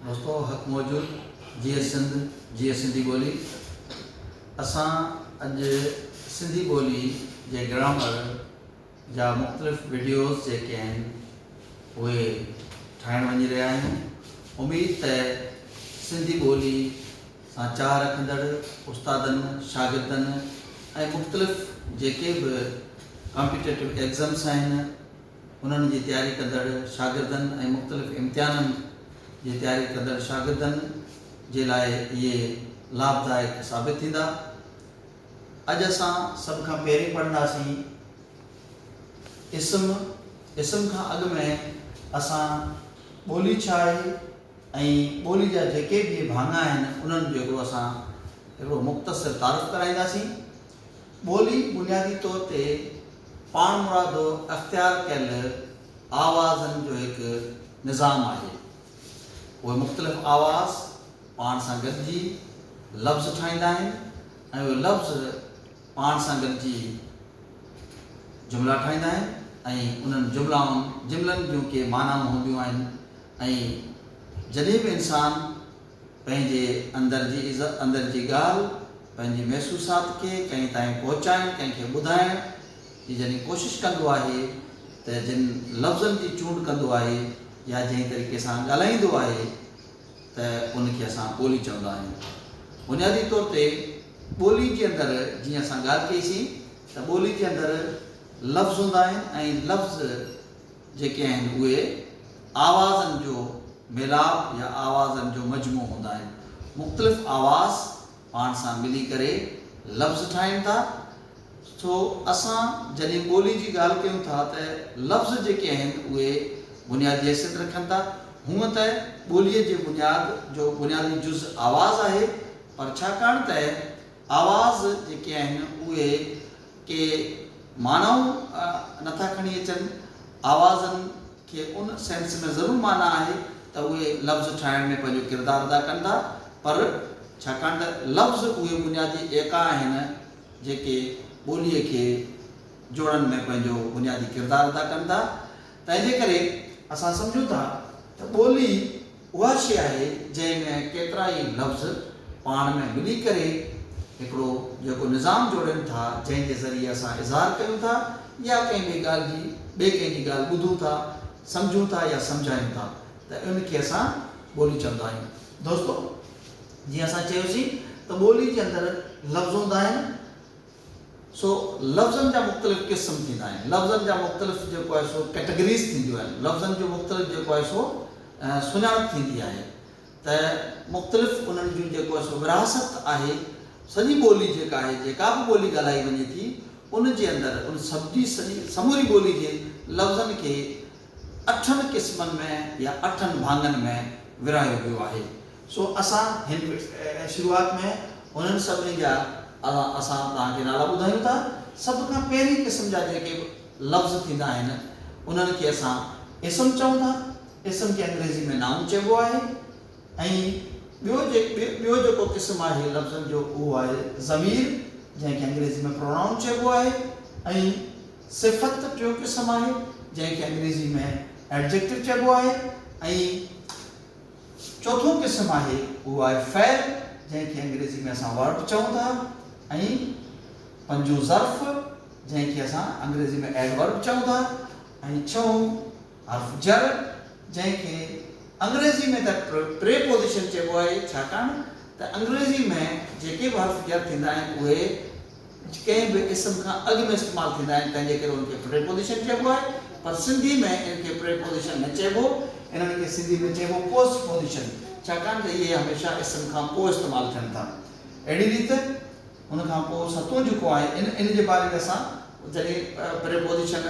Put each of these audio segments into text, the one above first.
دوستو حق موجود جيئي سنڌ جيئي سنڌي ٻولي اسان اڄ سنڌي ٻولي جي گرامر جا مختلف وڊيوز جيڪي آهن اهي ٺاهڻ وڃي رهيا آهيون اميد ته سنڌي ٻولي سان چاهه رکندڙ استادن شاگردن ۽ مختلف جيڪي به ڪامپيٽيٽو ايگزمس آهن انهن جي تياري ڪندڙ شاگردن ۽ مختلف امتحانن جي تياري ڪندڙ شاگردن جي لاء اهي لاڀدائڪ ثابت ٿيندا. اڄ اسان سڀ کان پهرين پڙهنداسين اسم، اسم کان اڳ ۾ اسان ٻولي ڇا آهي ۽ ٻولي جا جيڪي به ڀاڱا آهن انهن جو هڪڙو اسان هڪڙو مختصر تعارف ڪرائينداسين. ٻولي بنيادي طور تي پاڻمرادو اختيار ڪيل آوازن جو هڪ نظام آهي. اهي مختلف آواز پاڻ سان گڏجي لفظ ٺاهيندا آهن ۽ اهي لفظ پاڻ سان گڏجي جملا ٺاهيندا آهن ۽ انهن جملائن جملن جون ڪي معنائون هونديون آهن ۽ جڏهن به انسان پنهنجي اندر جي اندر جي ڳالهه، پنهنجي محسوسات کي ڪنهن تائين پهچائڻ، ڪنهن کي ٻڌائڻ جي جڏهن ڪوشش ڪندو آهي ته جن لفظن جي چونڊ ڪندو آهي يا جنهن طريقي سان ڳالهائيندو آهي ته ان کي اسان ٻولي چوندا آهيون. بنيادي طور تي ٻولي جي اندر جيئن اسان ڳالهه ڪئي سين ته ٻولي جي اندر لفظ هوندا آهن ۽ لفظ جيڪي آهن اهي آوازن جو ميلاپ يا آوازن جو مجموعو هوندا آهن. مختلف آواز پاڻ سان ملي ڪري لفظ ٺاهين ٿا. سو اسان جڏهن ٻولي جي ڳالهه ڪيون ٿا ته لفظ جيڪي آهن اهي بنيادي حيثيت رکن ٿا. هونء ته ٻوليء جي بنياد جو بنيادي جز آواز آهي پر ڇاڪاڻ ته آواز جيڪي آهن اهي ڪي معنائون نٿا کڻي اچن، آوازن کي ان سينس ۾ ضرور معنيٰ آهي ته اهي لفظ ٺاهڻ ۾ پنهنجو ڪردار ادا ڪن ٿا پر ڇاڪاڻ ته لفظ اهي بنيادي ايڪا آهن جيڪي ٻوليء کي جوڙڻ ۾ پنهنجو بنيادي ڪردار ادا ڪن ٿا تنهنجي ڪري اسان سمجهون ٿا ته ٻولي اها شيء آهي جنهن ۾ ڪيترائي لفظ پاڻ ۾ ملي ڪري هڪڙو جيڪو نظام جوڙين ٿا جنهن جي ذريعي اسان اظهار ڪيون ٿا يا ڪنهن ٻي ڳالهه جي ٻئي ڪنهن جي ڳالهه ٻڌون ٿا سمجهون ٿا يا سمجهايون ٿا ته ان کي اسان ٻولي چوندا آهيون. دوستو جيئن اسان چيوسين ته ٻولي جي اندر لفظ هوندا آهن. سو لفظن جا مختلف قسم ٿيندا آهن. لفظن جا مختلف جيڪو آهي سو ڪيٽيگريز ٿينديون آهن. لفظن جون مختلف جيڪو آهي سو سڃاڻپ ٿيندي آهي ته مختلف انهن جون جيڪو آهي سو ورهاست آهي. سڄي ٻولي جيڪا آهي جيڪا به ٻولي ڳالهائي وڃي ٿي ان جي اندر ان سڀجي سڄي سموري ٻولي جي لفظن کي اٺن قسمن ۾ يا اٺن ڀاڱن ۾ ورهايو ويو آهي. سو اسان هن شروعات ۾ هنن سڀني جا اسان توهان کي نالا ٻڌايون ٿا. سڀ کان پهرين قسم جا جيڪي به لفظ ٿيندا آهن انهن کي اسان اسم چئون ٿا. اسم کي انگريزي ۾ Noun چئبو آهي ۽ ٻيو ٻيو جيڪو قسم آهي لفظن جو اهو آهي ضمير جنهن کي انگريزي ۾ Pronoun چئبو آهي ۽ صفت ٽيون قسم آهي جنهن کي انگريزي ۾ Adjective چئبو آهي ۽ چوٿون قسم آهي اهو آهي فعل جنهن کي انگريزي ۾ اسان Verb چئون ٿا ۽ پنجون ظرف جنهن کي اسان انگريزي ۾ Adverb چئون ٿا ۽ ڇهون حرف جر جنهن کي انگريزي ۾ ته Preposition چئبو آهي ڇاڪاڻ ته انگريزي ۾ جيڪي به حرف جر ٿيندا آهن اهي ڪنهن به اسم کان اڳ ۾ استعمال ٿيندا آهن تنهن جي ڪري ان کي پريپوزيشن چئبو آهي پر سنڌي ۾ ان کي پريپوزيشن نه چئبو انهن کي سنڌي ۾ چئبو پوسٽ پوزيشن ڇاڪاڻ ته اهي هميشه اسم کان پوء استعمال ٿين ٿا اهڙي ريت ان کان پوء ستون جيڪو آهي ان ان جي باري ۾ اسان جڏهن پريپوزيشن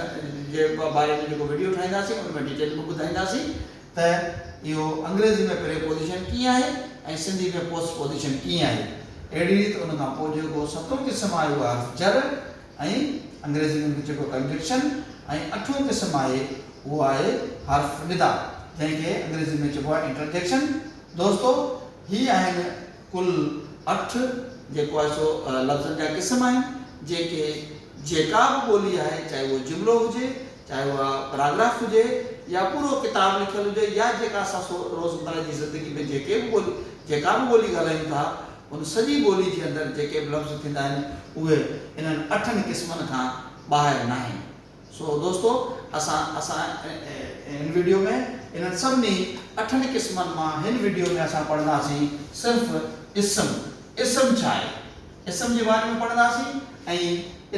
جي باري ۾ جيڪو وڊيو ٺاهينداسين ان ۾ ڊيٽيل ۾ ٻڌائينداسين. ته اهو انگريزي ۾ پريپوزيشن ڪيئن آهي ۽ سنڌي ۾ پوسٽپوزيشن ڪيئن آهي. اهڙي ريت ان کان پوء جيڪو ستون قسم آهي اهو حرف جر ۽ انگريزي ۾ به چئبو ڪنجنڪشن ۽ اٺون قسم آهي اهو آهي حرف ندا جنهن کي انگريزي ۾ چئبو آهي انٽرجيڪشن. دوستو هي آهن ڪل اٺ جيڪو آهي سو لفظن جا قسم آهن جيڪي جيڪا به ٻولي آهي چاهي اهو جملو هجي چاهي اها پراگراف هجي يا پورو ڪتاب لکيل هجي يا جيڪا اسان سو روزمره جي زندگي ۾ جيڪي به ٻولي جيڪا به ٻولي ڳالهايون ٿا ان سڄي ٻولي جي اندر جيڪي به لفظ ٿيندا آهن اهي انهن اٺن قسمن کان ٻاهر ناهن سو دوستو اسان اسان ان ويڊيو ۾ انهن سڀني اٺن قسمن مان هن ويڊيو ۾ اسان پڙهنداسين صرف اسم اسم ڇا آهي اسم جي باري ۾ پڙهنداسين ۽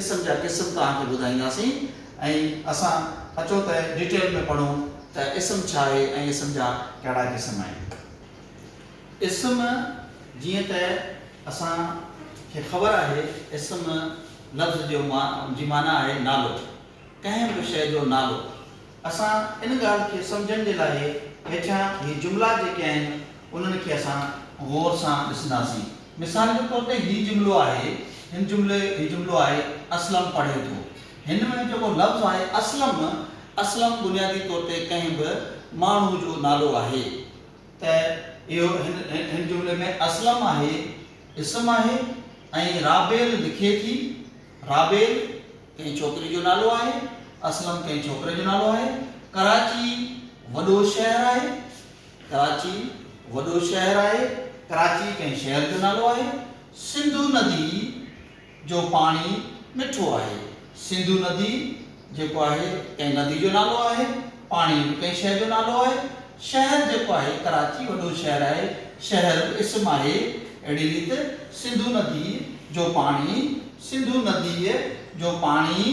اسم جا قسم توهان کي ٻڌائينداسين ۽ اسان اچو ته ڊيٽيل ۾ پڙهون ته اسم ڇا آهي ۽ اسم جا ڪهڙا قسم آهن. اسم جيئن ته اسان کي خبر آهي اسم لفظ جو جي معنيٰ آهي نالو، ڪنهن به شيء جو نالو. اسان ان ڳالهه کي سمجهڻ جي لاء هيٺيان هي جملا جيڪي آهن انهن کي اسان غور سان ڏسنداسين. مثال جي طور تي هي جملو آهي هن جملي هي جملو آهي اسلم پڙهي ٿو. هن ۾ جيڪو لفظ آهي اسلم، اسلم بنيادي طور تي ڪنهن به ماڻهو جو نالو آهي ته اهو هن جملي ۾ اسلم آهي اسم آهي ۽ رابيل لکي ٿي، رابيل ڪنهن ڇوڪري جو نالو آهي، اسلم ڪنهن ڇوڪري جو نالو آهي، ڪراچي وڏو شهر آهي، ڪراچي وڏو شهر آهي، ڪراچي ڪنهن شهر جو نالو آهي، سنڌو ندي. جو پاڻي مٺو آهي. سنڌو ندي جيڪو آهي ڪنهن ندي جو نالو آهي. پاڻي به ڪنهن شيء جو نالو آهي. شهر جيڪو آهي ڪراچي وڏو شهر آهي. شهر به اسم آهي. اهڙي ريت سنڌو ندي جو پاڻي سنڌو نديء جو پاڻي.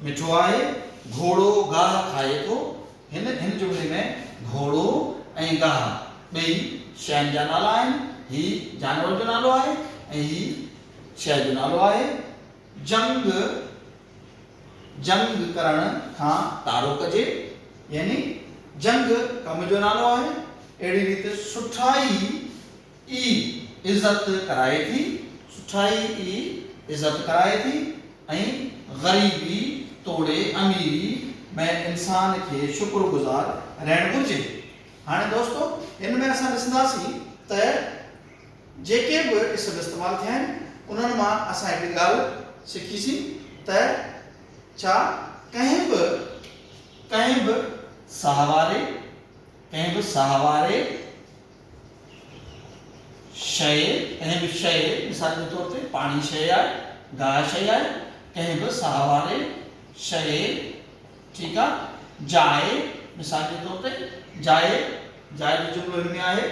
مٺو آهي، گهوڙو گاهه کائي ٿو، هن هن جملي ۾ گهوڙو ۽ گاهه ٻئي شين جا نالا آهن، هي جانور جو نالو آهي ۽ هي شيء جو نالو آهي. جنگ، جنگ ڪرڻ کان تارو ڪجي، يعني جنگ ڪم جو نالو آهي، اهڙي ريت سٺائي ئي عزت ڪرائي ٿي، سٺائي ئي عزت ڪرائي ٿي ۽ غريبي توڙي اميري ۾ انسان کي شڪر گذار رهڻ گهرجي. هاڻي دوستو هن ۾ اسان ڏسنداسين ته جيڪي به اسم استعمال ٿيا آهن انهن مان اسان هڪڙي ڳالهه سکيسين ته ڇا ڪنهن به ڪنهن به ساهواري ڪنهن به ساهواري. شيء، ڪنهن به شيء، مثال جي طور تي پاڻي شيء آهي، گاهه شيء آهي، ڪنهن به ساهه واري شيء، ٺيڪ آ، جاء، مثال جي طور تي جاء، جاء جو جملو هن ۾ آهي،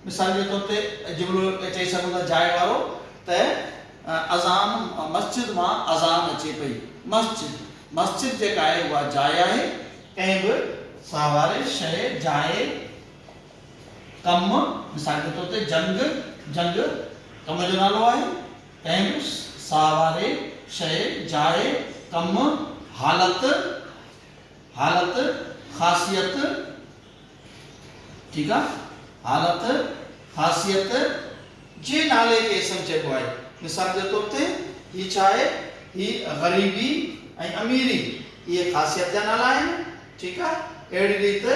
مثال جي طور تي جملو چئي سگهون ٿا جاء وارو ته اذان مسجد مان اذان اچي پئي، مسجد، مسجد جيڪا آهي اها جاء آهي، ڪنهن به ساهه واري شيء، جاء، ڪم، مثال جي طور تي جنگ، جنگ ڪم جو نالو آهي، ڪنهن به ساهواري شيء، جاء، ڪم، حالت، حالت، خاصيت، ٺيڪ آ، حالت، خاصيت، جي نالي کي اسم چئبو آهي، مثال جي طور تي هي ڇا آهي، هي غريبي ۽ اميري اهي خاصيت جا نالا آهن، ٺيڪ آ، اهڙي ريت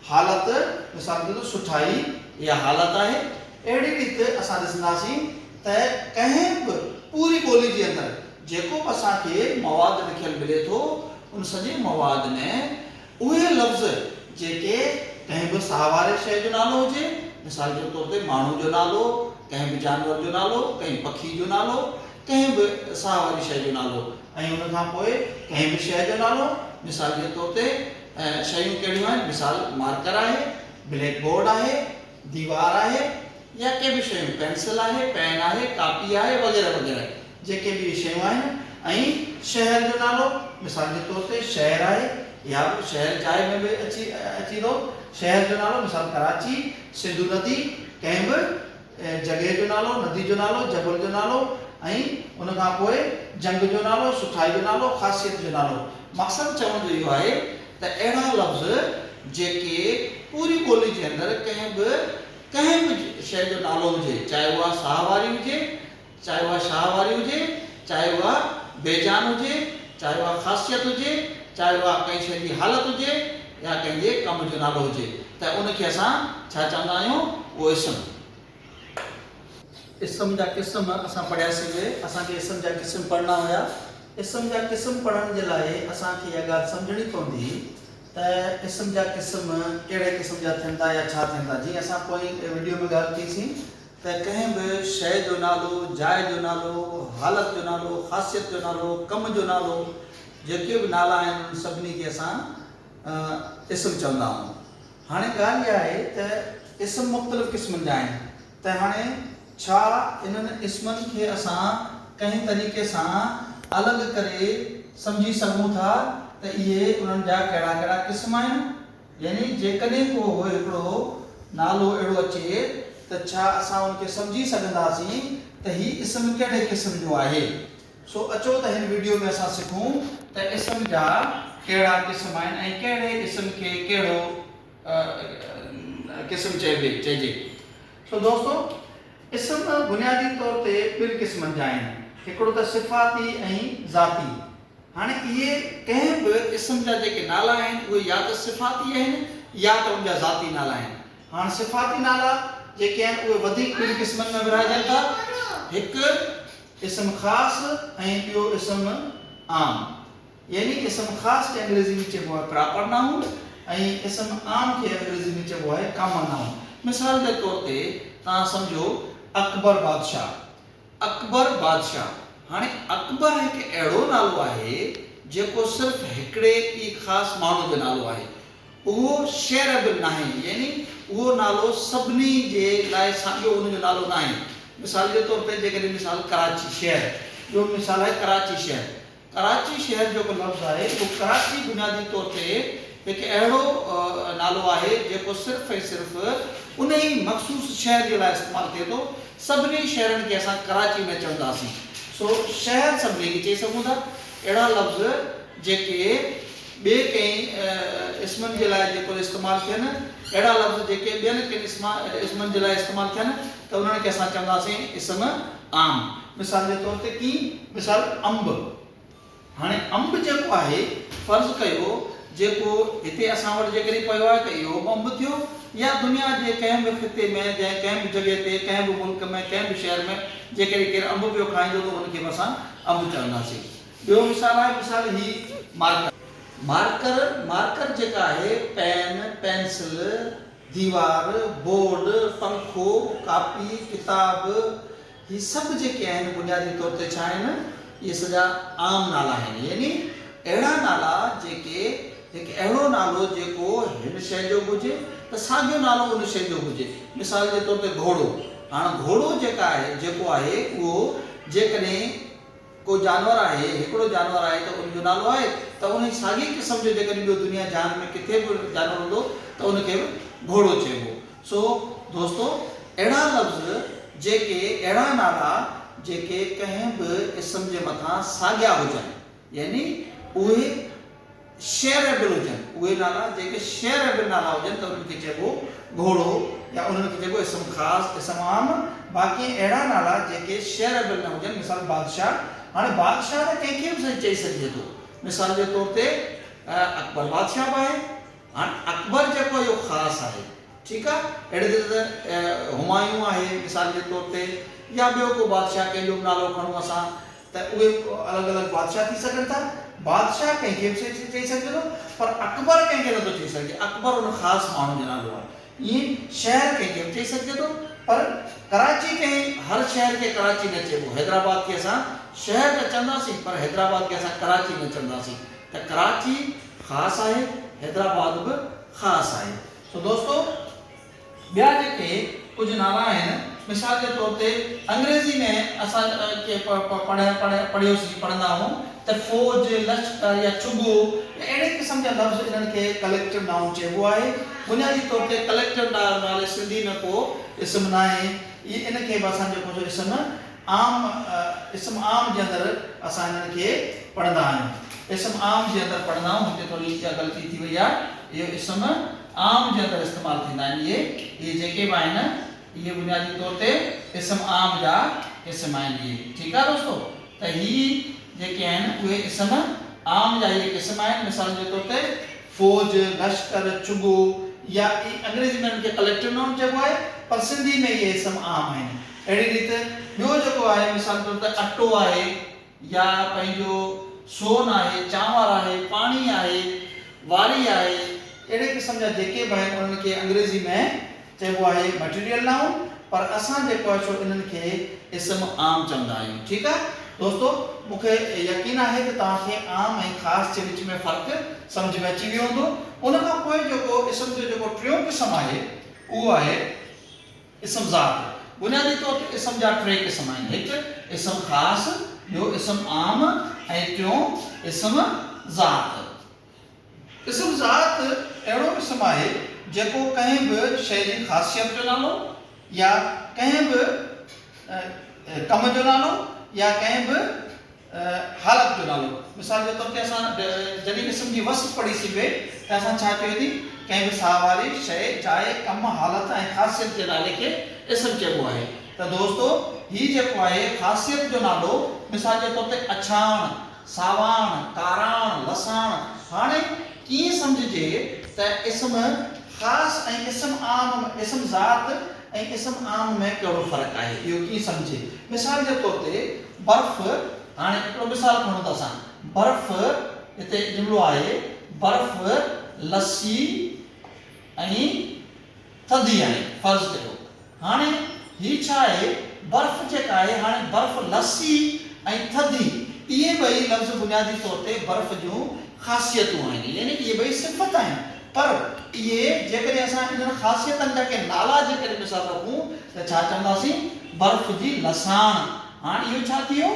حالت مثال طور تي سٺائي اها حالت آهي. اهڙي ريت اسان ڏسنداسين ته ڪنهن به پوري ٻولي جي اندر جيڪو به اسان کي مواد لکيل ملي ٿو ان سڄي مواد ۾ اهي لفظ جيڪي ڪنهن به ساهه واري شيء جو نالو هجي مثال جي طور تي ماڻهو جو نالو، ڪنهن به جانور جو نالو، ڪنهن پکي جو نالو، ڪنهن به ساهه واري شيء جو نالو ۽ ان کان پوء ڪنهن به شيء جو نالو مثال جي طور تي اهي شيون ڪهڙيون آهن؟ مثال، مارڪر آهي، بليڪ بورڊ آهي، ديوار آهي يا ڪي به شيون، پينسل آهي، پين آهي، ڪاپي آهي وغيره وغيره جيڪي به اهي شيون آهن ۽ شهر جو نالو مثال جي طور تي شهر آهي يا شهر جاء ۾ به اچي اچي ٿو شهر جو نالو مثال ڪراچي، سنڌو ندي ڪنهن به. جڳهه جو نالو، ندي جو نالو، جبل جو نالو ۽ ان کان پوء جنگ جو نالو، سٺائي جو نالو، خاصيت جو نالو. مقصد چوڻ جو اهو آهي ته اهڙا لفظ جيڪي پوري ٻولي جي اندر ڪنهن به ڪنهن به شيء جو نالو هجي، چاهي اها ساهه واري هجي، چاهي اها شاهه واري هجي، چاهي اها بي جان هجي، چاهي اها خاصيت هجي، چاهي اها ڪنهن شيء جي حالت هجي يا ڪنهن جي ڪم جو نالو هجي ته ان کي اسان ڇا چوندا آهيون؟ اهو اسم. اسم جا قسم اسان پڙهياسين اهي اسان کي اسم جا قسم پڙهڻا هيا. اسم جا قسم پڙهڻ جي لاء اسان کي اها ڳالهه سمجهڻي پوندي ته اسم جا قسم ڪهڙي قسم جا ٿيندا يا ڇا ٿيندا جيئن اسان پوئين وڊيو ۾ ڳالهه ڪئي سين ته ڪنهن به شيء جو نالو، جاء جو نالو، حالت جو نالو، خاصيت جو نالو، ڪم جو نالو، جيڪي به نالا آهن انهن سڀني کي اسان اسم چوندا آهيون. هاڻي ڳالهه اها آهي ته اسم مختلف قسمن جا آهن ته هاڻي ڇا انهن اسمن کي اسان ڪنهن طريقي سان الڳ ڪري سمجهي سگهون ٿا ته اهي انهن جا ڪهڙا ڪهڙا قسم آهن؟ يعني جيڪڏهن ڪو هڪڙو نالو اهڙو اچي ته ڇا اسان ان کي سمجهي سگهنداسين ته هي اسم ڪهڙي قسم جو آهي؟ سو اچو ته هن وڊيو ۾ اسان سکون ته اسم جا ڪهڙا قسم آهن ۽ ڪهڙي اسم کي ڪهڙو قسم چئبي چئجي. سو دوستو اسم بنيادي طور تي ٻن قسمن جا آهن هڪڙو ته صفاتي ۽ ذاتي. هاڻي اهي ڪنهن به اسم جا جيڪي نالا آهن اهي يا ته صفاتي آهن يا ته ان جا ذاتي نالا آهن. هاڻ صفاتي نالا جيڪي آهن اهي وڌيڪ ٻن قسمن ۾ ورهائجن ٿا، هڪ اسم خاص ۽ ٻيو اسم عام. يعني اسم خاص کي انگريزي ۾ چئبو آهي پراپر نائون ۽ اسم عام کي انگريزي ۾ چئبو آهي ڪامن نائون. مثال جي طور تي توهان سمجهو اڪبر بادشاهه. اڪبر بادشاهه، هاڻي اڪبر هڪ اهڙو نالو آهي جيڪو صرف هڪڙي ئي خاص ماڻهو جو نالو آهي. اهو شعر به ناهي يعني اهو نالو سڀني جي لاء ساڳيو ان جو نالو ناهي. مثال جي طور تي جيڪڏهن مثال ڪراچي شهر جو مثال آهي ڪراچي شهر ڪراچي شهر جيڪو لفظ آهي اهو ڪراچي بنيادي طور تي هڪ اهڙو نالو آهي جيڪو صرف ۽ صرف انهي مخصوص شهر جي لاء استعمال ٿئي ٿو، سڀني شهرن کي اسان ڪراچي نه چونداسين سو شهر سڀني کي چئي سگهون ٿا اهڙا لفظ جيڪي ٻئي ڪنهن اسمن جي لاء جيڪر استعمال ٿين اهڙا لفظ جيڪي ٻين ڪن اسمن جي لاء استعمال ٿين ته انهن کي اسان چونداسين اسم عام مثال جي طور تي ڪين مثال انب هاڻي انب جيڪو آهي فرض ڪيو جيڪو هتي اسان وٽ جيڪڏهن پيو آهي ته اهو به انب ٿيو يا دنيا جي ڪنهن به خطي ۾ جنهن ڪنهن به جڳهه تي ڪنهن به ملڪ ۾ ڪنهن به شهر ۾ جيڪڏهن ڪير انب پيو کائيندو ته ان کي به اسان انب چونداسين ٻيو مثال آهي مثال هي مارڪر مارڪر مارڪر جيڪا آهي پين پينسل ديوار، بورڊ، پنکو، ڪاپي، ڪتاب، هي سڀ جيڪي آهن بنيادي طور تي ڇا آهن؟ اهي سڄا عام نالا آهن يعني اهڙا نالا جيڪي هڪ اهڙو نالو جيڪو هن شيء جو به هجي ته ساڳيو نالو ان شيء جو به هجي مثال جي طور تي گهوڙو هاڻ گهوڙو جيڪا آهي جيڪو آهي اهو جيڪڏهن ڪو جانور آهي، هڪڙو جانور آهي ته ان جو نالو آهي ته انهي ساڳئي قسم جو جيڪڏهن ٻيو دنيا جهان ۾ ڪٿي به جانور هوندو ته ان کي به گهوڙو چئبو. سو دوستو اهڙا لفظ جيڪي اهڙا نالا جيڪي ڪنهن به اسم جي مٿان ساڳيا هجن يعني اهي. شعر به هجن، اهي نالا جيڪي شعر به نالا هجن ته انهن کي چئبو گهوڙو يا انهن کي چئبو اسم خاص، اسم عام، باقي اهڙا نالا جيڪي شعر به نه هجن مثال بادشاهه، هاڻي بادشاهه ته ڪنهن کي به سائين چئي سگهجي ٿو، مثال جي طور تي اڪبر بادشاهه به آهي، هاڻي اڪبر جيڪو آهي اهو خاص آهي ٺيڪ آهي، اهڙي طرح سان همايون آهي مثال جي طور تي يا ٻيو ڪو بادشاهه ڪنهن جو به نالو کڻون اسان. ته اهي الڳ الڳ بادشاهه ٿي سگهن ٿا. بادشاهه ڪنهن کي به سيٺ چئي سگهجي ٿو پر اڪبر ڪنهن کي نه ٿو چئي سگهجي. اڪبر ان خاص ماڻهو جو نالو آهي. ائين شهر ڪنهن کي به چئي سگهجي ٿو پر ڪراچي ڪنهن هر شهر کي ڪراچي نه چئبو. حيدرآباد کي اسان شهر ته چونداسين پر حيدرآباد کي اسان ڪراچي نه چونداسين. ته ڪراچي خاص آهي، حيدرآباد به خاص آهي. سو دوستو! ٻيا جيڪي ڪجهه نالا آهن، مثال جي طور تي انگريزي ۾ اسان ڪي پڙهيوسين، پڙهندا آهون ته فوج، لشڪر يا چگو يا اهڙي قسم جا لفظ انهن کي ڪليڪٽو نائون چئبو آهي. بنيادي طور تي ڪليڪٽو نالي سنڌي ۾ ڪو اسم ناهي. ان کي به اسان جيڪو جو اسم عام اسم عام جي اندر اسان انهن کي پڙهندا آهيون. اسم عام جي اندر پڙهندا آهون هتي ٿوري اها غلطي ٿي وئي آهي اهو اسم. عام جي اندر استعمال ٿيندا آهن. اهي اهي جيڪي به آهن اهي بنيادي طور تي اسم عام جا قسم آهن. اهي ٺيڪ آهي دوستو ته هي جيڪي آهن اهي اسم عام جا اهي قسم آهن مثالن جي طور تي فوج، لشڪر، چڳو يا اهي انگريزي ۾ انهن کي ڪليڪٽر نائون چئبو آهي پر سنڌي ۾ اهي اسم عام آهن. اهڙي ريت ٻيو جيڪو آهي مثال جي طور تي اٽو آهي. يا پنهنجو سون آهي، چانور آهي، پاڻي آهي، واري آهي، اهڙي قسم جا جيڪي به آهن انهن کي انگريزي ۾ چئبو آهي Material Noun پر اسان جيڪو آهي سو انهن کي اسم عام چوندا آهيون ٺيڪ آهي دوستو مون کي يقين آهي ته توهان کي عام ۽ خاص جي وچ ۾ فرق سمجهه ۾ اچي ويو هوندو ان کان پوء جيڪو اسم جو جيڪو ٽيون قسم آهي اهو آهي اسم ذات، بنيادي طور تي اسم جا ٽي قسم آهن، هڪ اسم خاص، ٻيو اسم عام ۽ ٽيون اسم ذات. اسم ذات اهڙو اسم آهي جيڪو ڪنهن به شيء جي خاصيت جو نالو يا ڪنهن به ڪم جو نالو يا ڪنهن به حالت جو نالو. مثال جي طور تي اسان جڏهن اسم جي وصف پڙهي سين پئي ته اسان ڇا چيو ٿي ڪنهن به ساهه واري شيء، جاء، ڪم، حالت ۽ خاصيت جي نالي کي اسم چئبو آهي ته دوستو هي جيڪو آهي خاصيت جو نالو مثال جي طور تي اڇاڻ، ساواڻ، ڪاراڻ، لساڻ هاڻي ائين سمجهجي ته اسم خاص ۽ اسم عام م اسم ذات ۽ اسم عام ۾ ڪهڙو فرق آهي اهو ائين سمجهجي مثال جي طور تي برف، هاڻي هڪڙو مثال کڻون ته اسان برف هتي جملو آهي برف لسي ۽ ٿڌي آهي فرض ڪيو هاڻي هي ڇا آهي برف جيڪا آهي هاڻي برف لسي ۽ ٿڌي اهي ٻئي لفظ بنيادي طور تي برف جون خاصيتون آهن يعني اهي ٻئي صفت آهن پر اهي جيڪڏهن اسان انهن خاصيتن جا ڪي نالا جيڪڏهن مثال رکون ته ڇا چونداسين؟ برف جي لساڻ، هاڻ اهو ڇا ٿي ويو؟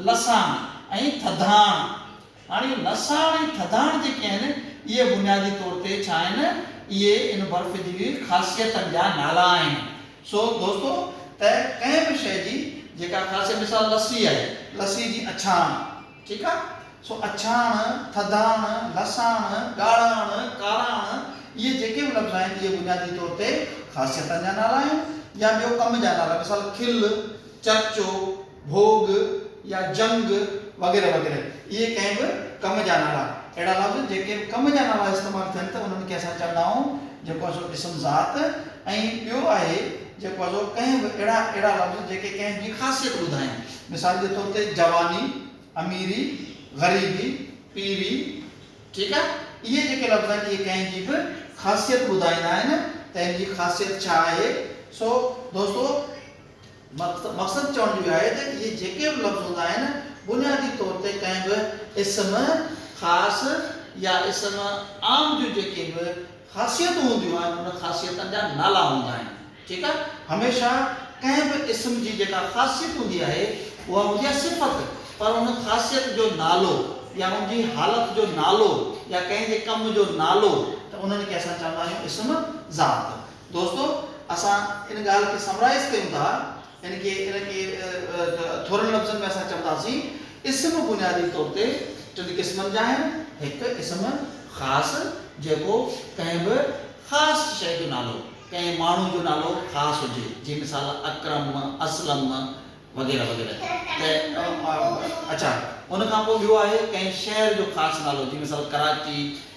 لساڻ ۽ ٿڌاڻ. هاڻ اهي لساڻ ۽ ٿڌاڻ جيڪي آهن اهي بنيادي طور تي ڇا آهن؟ اهي ان برف جي خاصيتن جا نالا آهن. سو دوستو ته ڪنهن به شيء جي جيڪا خاصيت مثال لسي آهي، لسي جي اڇاڻ، ٺيڪ آ سو اڇاڻ، ٿڌاڻ، لساڻ، ڳاڙهاڻ، ڪاراڻ اهي جيڪي به لفظ آهن اهي بنيادي طور تي خاصيتن جا نالا آهن يا ٻيو ڪم جا نالا مثال کل، چرچو، ڀوڳ يا جنگ وغيره وغيره اهي ڪنهن به ڪم جا نالا اهڙا لفظ جيڪي به ڪم جا نالا استعمال ٿين ته انهن کي اسان چوندا آهون جيڪو سو اسم ذات ۽ ٻيو آهي جيڪو سو ڪنهن به اهڙا اهڙا لفظ جيڪي ڪنهن جي خاصيت ٻڌائين. مثال جي طور تي جواني، اميري، غريبي، پيري، ٺيڪ آ اهي جيڪي لفظ آهن اهي ڪنهن جي به خاصيت ٻڌائيندا آهن ته هن جي خاصيت ڇا آهي سو دوستو مقصد چوڻ جو اهي آهي ته اهي جيڪي به لفظ هوندا آهن بنيادي طور تي ڪنهن به اسم خاص يا اسم عام جون جيڪي به خاصيتون هونديون آهن ان خاصيتن جا نالا هوندا آهن ٺيڪ آهي هميشه ڪنهن به اسم جي جيڪا خاصيت هوندي آهي اها هوندي آهي صفت پر ان خاصيت جو نالو يا ان جي حالت جو نالو يا ڪنهن جي ڪم جو نالو ته انهن کي اسان چوندا آهيون اسم ذات دوستو اسان ان ڳالهه کي سمرائيز ڪيون ٿا يعني ڪي ان کي ٿورن لفظن ۾ اسان چونداسين اسم بنيادي طور تي ٽن قسمن جا آهن، هڪ اسم خاص جيڪو ڪنهن به خاص شيء جو نالو، ڪنهن ماڻهو جو نالو خاص هجي، جي مثال اڪرم، اسلم وغيره وغيره ته اڇا ان کان پوء ٻيو آهي ڪنهن شهر جو خاص نالو جي مثال ڪراچي،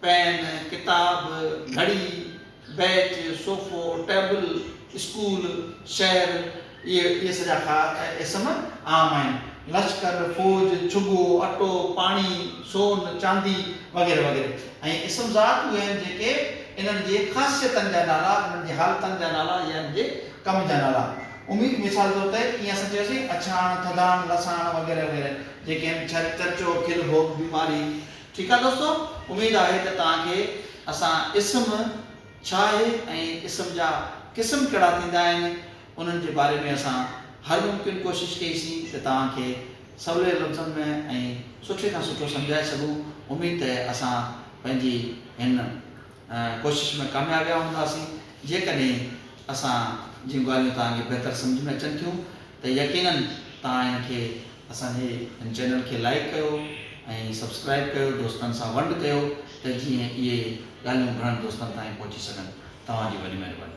پين، ڪتاب، گهڙي، بيچ، صوفو، ٽيبل، اسڪول، شهر، اهي سڄا خار ۽ اسم عام آهن. لشڪر، فوج، ڇڳو، اٽو، پاڻي، سون، چاندي وغيره وغيره ۽ اسم ذات اهي آهن جيڪي انهن جي خاصيتن جا نالا، انهن جي حالتن جا نالا يا انهن جي ڪم جا نالا اميد مثال طور تي جيئن اسان چيوسين اڇاڻ، ٿڌاڻ، لساڻ وغيره وغيره جيڪي آهن چرچو، کل ڀوڳ، بيماري، ٺيڪ آهي دوستو اميد آهي ته توهان کي اسان اسم ڇا آهي ۽ اسم جا قسم ڪهڙا ٿيندا آهن انهن جي باري ۾ اسان هر ممڪن ڪوشش ڪئي سين ته توهان کي سولي لفظن ۾ ۽ سٺي کان سٺو سمجهائي سگهون اميد ته اسان پنهنجي هن ڪوشش ۾ ڪاميابيا هوندا سين جيڪڏهن اسان جون ڳالهيون توهان کي بهتر سمجهه ۾ اچن ٿيون ته يقينن توهان ان کي اسان جي هن چينل کي لائيڪ ڪيو ۽ سبسڪرائيب ڪيو دوستن سان ونڊ ڪيو ته جيئن اهي ڳالهيون گهڻن دوستن تائين پهچي سگهن توهان جي وڏي مهرباني.